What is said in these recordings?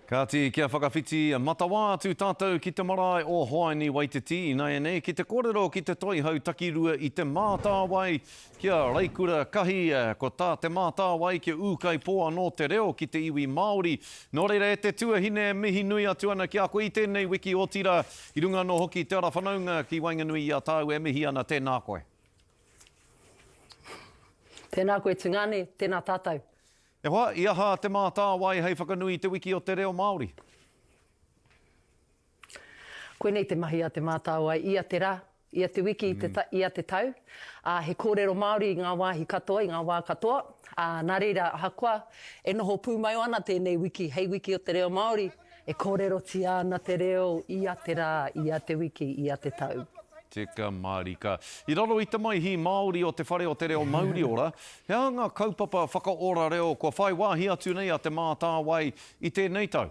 Kāti, kia whakawhiti matawā atu tātou ki te marae o Hoani Waititi ināianei ki te kōrero ki te Toihau Takirua i Te Mātāwai, ki a Raikura Kahi, ko tā Te Mātāwai kia ūkaipō anō te reo ki te iwi Māori. Nō reira e te tuahine, mihi nui atu ana ki a koe i tēnei wiki otirā, i runga anō hoki i te ara whanaunga ki waenganui i a tāu e mihi ana, tēnā koe. Tēnā koe Tungane, tēnā tātou. E hoa, i aha Te Mātāwai hei whakanui i Te Wiki o te Reo Māori? Koinei te mahi a Te Mātāwai ia te rā, ia te wiki, ia te tau, ā, he kōrero Māori i ngā wāhi katoa, i ngā wā katoa, ā, nā reira, ahakoa e noho pūmau ana tēnei wiki hei Wiki o te Reo Māori, E kōrerotia ana te reo ia te rā, ia te wiki, ia te tau. Tika mārika. I raro i te Maihi Māori o Te Whare o te Reo Mauriora, he aha ngā kaupapa whakaora reo kua whai wāhi atu nei a Te Mātāwai i tēnei tau?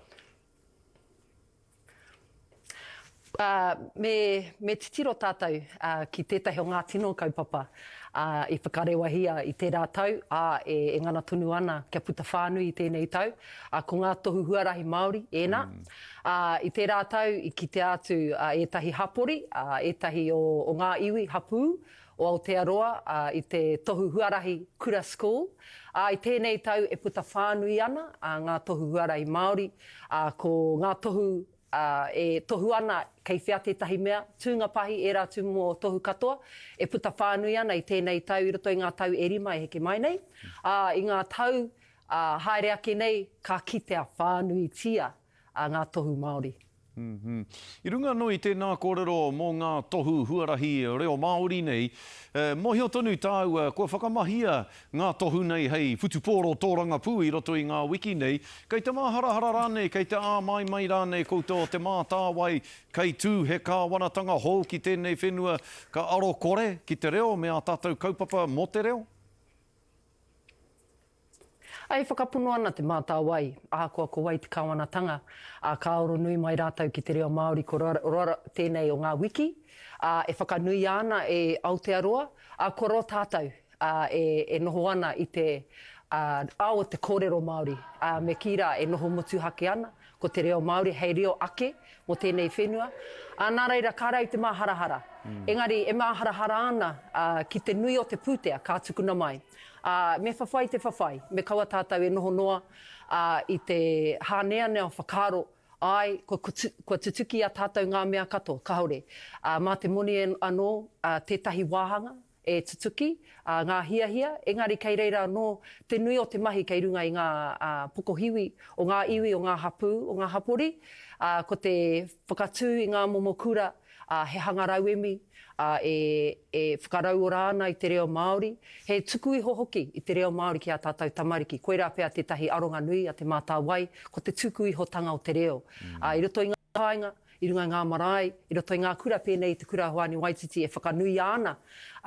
Ā, me, me titiro tātou, ā, ki tētahi o ngā tino kaupapa, ā, i whakarewahia i tērā tau, ā, e, e ngana tonu ana kia puta whānui i tēnei tau, ā, ko ngā tohu huarahi Māori ēnā. Ā, i tērā tau i kitea atu, ā, ētahi hapori, ā, ētahi o, o ngā iwi hapū o Aotearoa, ā, i te tohu huarahi Kura School, ā, i tēnei tau e puta whānui ana, ā, ngā tohu huarahi Māori, ā, ko ngā tohu ā, e tohu ana kei whea tētahi mea, tūnga pāhi ērā tūmomo tohu katoa e puta whānui ana i tēnei tau i roto i ngā tau e rima e heke mai nei, ā, i ngā tau ā haere ake nei ka kitea whānuitia ā ngā tohu Māori. I runga anō i tēnā kōrero mō ngā tohu huarahi reo Māori nei, e mōhio tonu tāua kua whakamahia Ngā tohu nei hei whutupōro tōrangapū i roto i ngā wiki nei, kei te māharahara rānei, kei te āmaimai rānei koutou o Te Mātāwai, kei tū he kāwanatanga hou ki tēnei whenua, ka aro kore ki te reo me ā tātou kaupapa mō te reo? E whakapono ana Te Mātāwai, ahakoa ko wai te kāwanatanga, ā, ka aro nui mai rātou ki te reo Māori ko raro tēnei o ngā wiki, ā, e whakanuia ana e Aotearoa, ā, kua roa tātou, ā, e, e noho ana i te, ā, ao o te kōrero Māori, ā, me kī rā, e noho motuhake ana, ko te reo Māori hei reo ake mō tēnei whenua, ā, nā reira, ka rau te māharahara. Engari, e māharahara ana, ā, ki te nui o te pūtea, ka tukuna mai. Ā, me whawhai te whawhai, me kaua tātou e noho noa, ā, i te hāneanea o whakaaro, āe, kua, kua, kua tutuki i a tātou ngā mea katoa, kāore, ā, mā te moni anō, ā, tētahi wāhanga, e tutuki, ā, ngā hiahia, engari kei reira anō te nui o te mahi kei runga i ngā pokohiwi o ngā iwi, o ngā hapū, o ngā hapori, ā, ko te whakatū i ngā momo kura, ā, he hanga rauemi, ā, e, e whakarauora ana i te reo Māori, he tuku iho hoki i te reo Māori ki ā tātou tamariki. Koirā pea tētahi aronga nui a Te Mātāwai, ko te tuku ihotanga o te reo, ā, i roto i ngā kāinga, i runga i ngā marae, i roto i ngā kura pēnei i Te Kura Hoani Waititi e whakanuia ana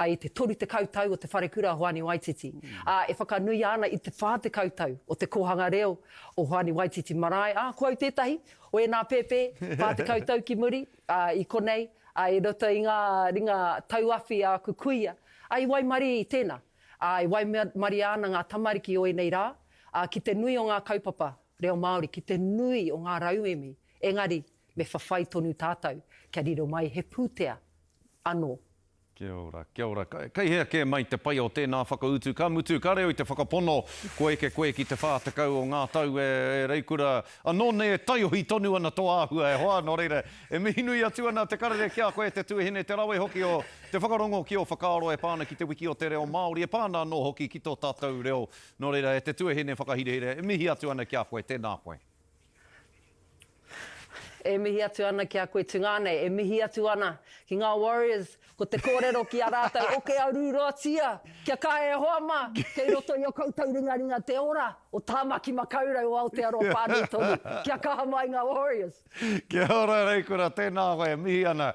i te 30 tau o Te Wharekura Hoani Waititi, ā, e whakanuia ana i te 40 tau o te kōhanga reo o Hoani Waititi Marae, ā, ko au tētahi o ēnā pēpē, 40 tau ki muri, ā, i konei, ā, i roto i ngā ringa tauawhi a aku kuia, ā, i waimarie i tēnā, ā, e waimarie ana ngā tamariki o ēnei rā, ā, ki te nui o ngā kaupapa reo Māori, ki te nui o ngā rauemi Engari, me whawhai tonu tātou kia riro mai he pūtea anō. Kia ora, kia ora. Kei hea kē mai te pai o tēnā whakautu? Ka mutu, ka reo i te whakapono kua eke koe ki te 40 o ngā tau e Reikura anō nei e taiohi tonu ana tō āhua e hoa, nō reira, e mihi nui atu ana te karere ki a koe, te tuahine, te rawe hoki o te whakarongo ki ō whakaaro e pā ana ki te wiki o te reo Māori, e pā ana anō hoki ki tō tātou reo. Nō reira, e te tuahine whakahirahira, e mihi atu ana ki a koe, tēnā koe. E mihi atu ana ki a koe tu nga nei, e mihi atu ana ki nga Warriors, ko te korero ki a ratou oke a ruroatia, kia kaha e hoa ma, kei roto i o koutou ringaringa te ora o Tamaki Makaurau o Aotearoa Whanui Tonu, kia kaha mai nga Warriors. Kia ora rei kura, tena koe, mihi ana.